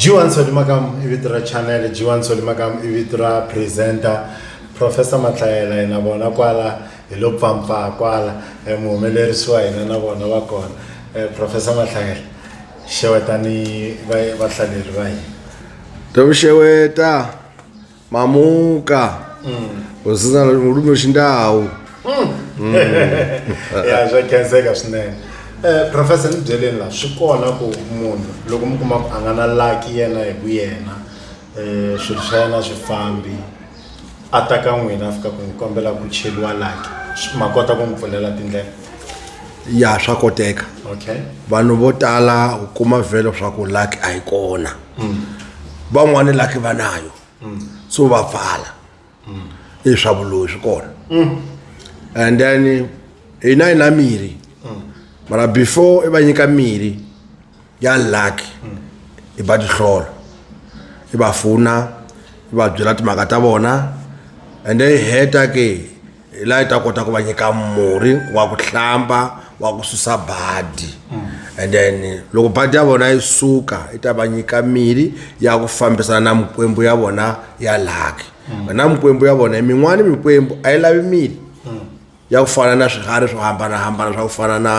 G1 Solimakam i vito ra channel G1 Solimakam i vito ra presenter Professor Matlayela yena vona kwala hi lo pfampfa kwala eh, muhumelerisi wa hina na vona va kona eh, Professor Matlayela xewetani vahlaleri va hina Tawuxeweta mamuka usina ulumi wexindhawu ya swa khenseka swinene um professor ni byeleni la swi kona ku munhu loko mi kuma ku a nga na laki yena hi ku yena um swilo swa yena swi fambi a ta ka n'wina a fika ku n'wi kombela ku cheliwa laki Swi- ma kota ku n'wi pfulela tindlela ya swa koteka okay vanhu vo tala u kuma vhelo swa ku laki a yi kona mm. van'wani laki va nayo mm. so va pfala mm. i swa vuloyi swi kona and then hina hi na mirhi mara before i va nyika mirhi ya lucky i va tihlolo i va fona i va byela timhaka ta vona and then hi heta ke hi laha yi ta kota ku va nyika murhi wa ku hlamba wa ku susa badi and then loko badi ya vona yi suka yi ta va nyika mirhi ya ku fambisana na mikwembu ya vona ya laki na mikwembu ya vona min'wana mikwembu a yi lavi mirhi ya ku fana na swiharhi swo hambanahambana swa ku fana na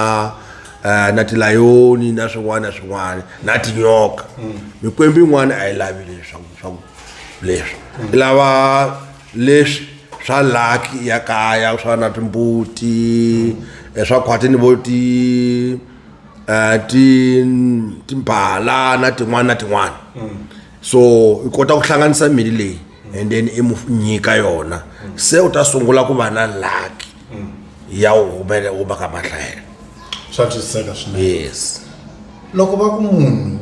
eh, na tilayoni na swin'wana na swin'wana na tinyoka mikwembu yin'wana a yi lavi leswaku leswi lava leswi swa laki ya kaya swa na timbuti eh, swa khwatini vo ti eh, ti timbhala na tin'wana na tin'wana mm. so i kota ku hlanganisa mili leyi and then i mu nyika yona se u ta sungula ku va na laki mm. ya u humele u va ka mahlayelo swa twisiseka swinene yes loko va ku munhu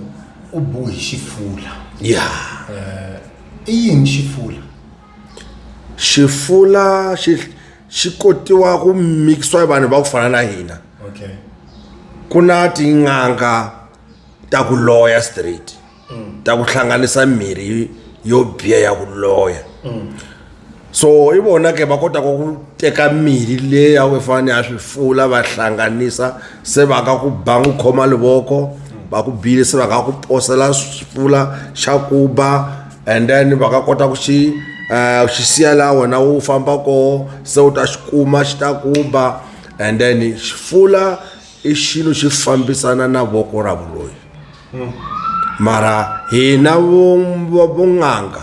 u bohi xifula ya yeah. uh, i yini xifula xifula xi xi kotiwa ku mikisiwa hi vanhu va ku fana na hina okay ku na tin'anga ta ku loya straight ta ku hlanganisa mirhi yo biha ya ku loya so hi vona ke va kotaka ku teka mirhi leyi a ku fanele ya swi fula va hlanganisa se va ka ku ba n'wi khoma livoko va ku bile se va ka ku posela swifula xa ku ba and then va ka kota ku xi um xi siya laha wena wu famba koho se u ta xi kuma xi ta ku ba and then xifula i xilo xi fambisana na voko ra vuloyi mara hina vun'anga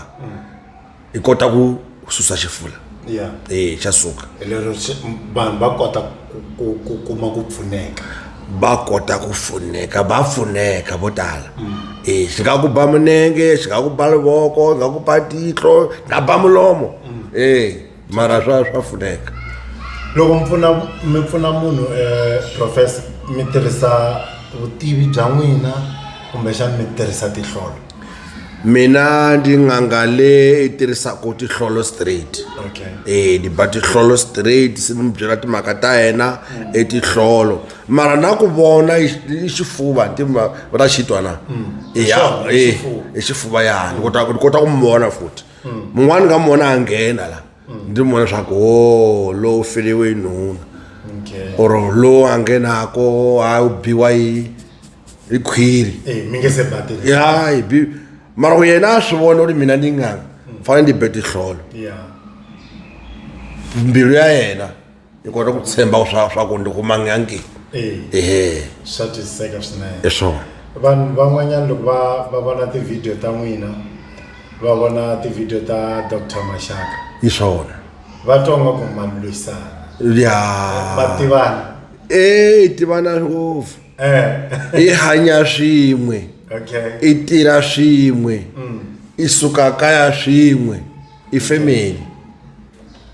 hi kota ku susa xifula ya e xa suka hi lero xi- m- vanhu va kota ku- ku ku kuma ku pfuneka va kota ku pfuneka va pfuneka vo tala e xi nga ku ba minenge xi nga ku ba livoko xi nga ku ba tihlo xi nga ba mulomo e mara swa swa pfuneka loko mi pfuna mi pfuna munhu eh, professor mi tirhisa vutivi bya n'wina kumbexana mi tirhisa tihlolo mina ndi n'anga le i tirhisaka tihlolo straight okay eh ni ba tihlolo straight se ni mi byela timhaka ta yena etihlolo mara na ku vona i i xifuva ti ma- va ta xitwa na ya Xona, i eh xifuva. i xifuva ya ni kota ku ni kota ku mi vona futhi mun'wani ka mona a nghena la ndzi n'wi vona leswaku o oh, lowu feliwe yi nhuna or lowu a nghenako a wu biwa yi yi khwiri eh, ya hi bi mara ku yena a swi vona u ri mina ni nga mm. fanele ni be tihlolo mbilu ya yena ni kota ku tshemba ku swa swa ku ni kumangangi Eh, ehe swa twisiseka swinene i swona vanhu van'wanyana loko va va vona tivhidiyo ta n'wina va vona tivhidiyo ta dr maxaka i swona va twa nga ku ma lwisana ya va tivana e tivana ngopfu eh i hanya swin'we okay i tirha swin'we i suka kaya swin'we ifamily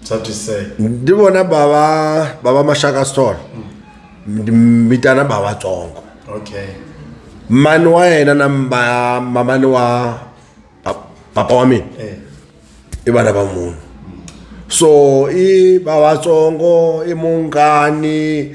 That is sad. ndi vona bava bava mashaka store ndi vitana bava tsongo Okay. mani wa yena na mba- mamani wa pa- papa wa mina Eh. i vana va munhu so i vavatsongo i mungani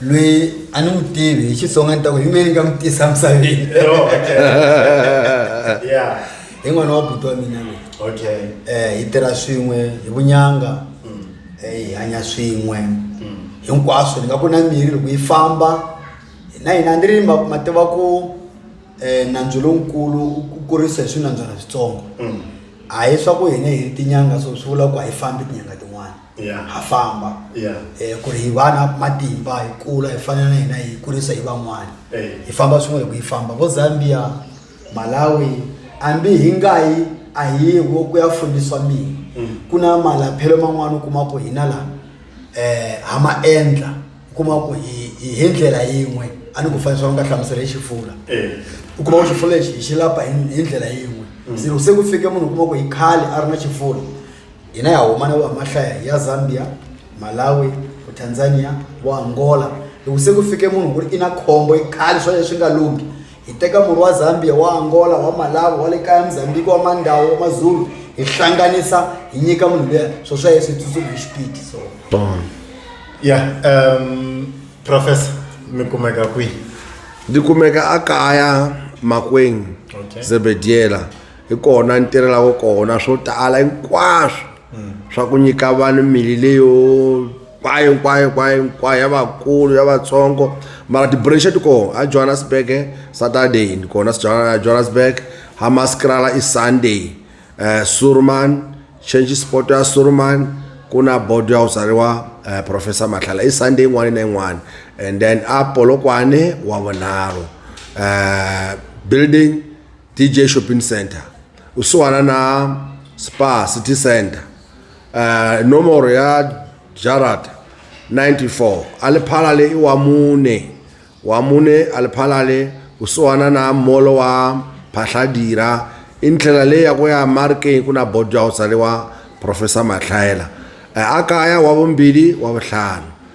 loyi a ni n'wi tivi hi xitsonga ni ta ku hi mina ni nga n'wi tisa misaveni yeah hi n'wana wa buti wa mina loyi okay um hi tirha swin'we hi vunyanga um hi hanya swin'we hinkwaswo ni nga ku na mirhi loko yi famba na hina a ni ri ma ma tiva ku um nandzu lonkulu ku kurisa hi swinandzwana switsongo a hi swa ku hina hi ri tinyanga so swi vula ku a yi fambi tinyanga tin'wana ha famba ku ri hi va na matimba hi kula hi fana na hina hi kurisa hi van'wana hi famba swin'we loko yi famba vo Zambia Malawi hambi hi nga yi a hi wo ku ya fundiswa mina mm. ku na malaphelo man'wana u kuma ku hina laha um ha ma endla u kuma ku hi ndlela yin'we a ni ku fanisa va nga hlamusela hi xifula u kuma ku xifula lexi hi xi lapa hi ndlela yin'we mm. se ku fike munhu u kuma ku hi khale a ri na xifula hina ya huma na vamahlaya ya zambia malawi vo tanzania vo angola loko se ku fike munhu ku ri i na khombo i khale swa leswi nga lunghi hi teka murhi wa zambia wa angola wa malawi wa le kaya mozambiki wa mandawu wa mazulu hi hlanganisa hi nyika munhu luya swo swa yeswi hi tsutsuma hi xipidi so ya um professor mi kumeka kwihi ni kumeka a kaya makweng Okay. zebediela hi kona ni tirhelaka kona swo tala hinkwaswo swa ku nyika vanhu mili leyo kwayo kwayo kwayo hinkwayo ya vakulu ya vatsongo mara tibranche ti kona a johannesburg saturday ni kona johannesburg hamaskrala i sunday um eh, surman change sport ya surman ku na bodo ya ku tsariwa um eh, professor matlhala i sunday yin'wana na yin'wana and then a polokwane wa vunharhu um building DJ Shopping Center kusuhana na Spa City Center uh, nomoro ya jarata 94 aliphala le iwa mune wa mune aliphala le kusuhana na molo wa phahladira i ndlela leyi ya ku ya markeng ku na bodo ya ku tsariwa professor matlhayela eh, a kaya wa vumbirhi wa vutlhanu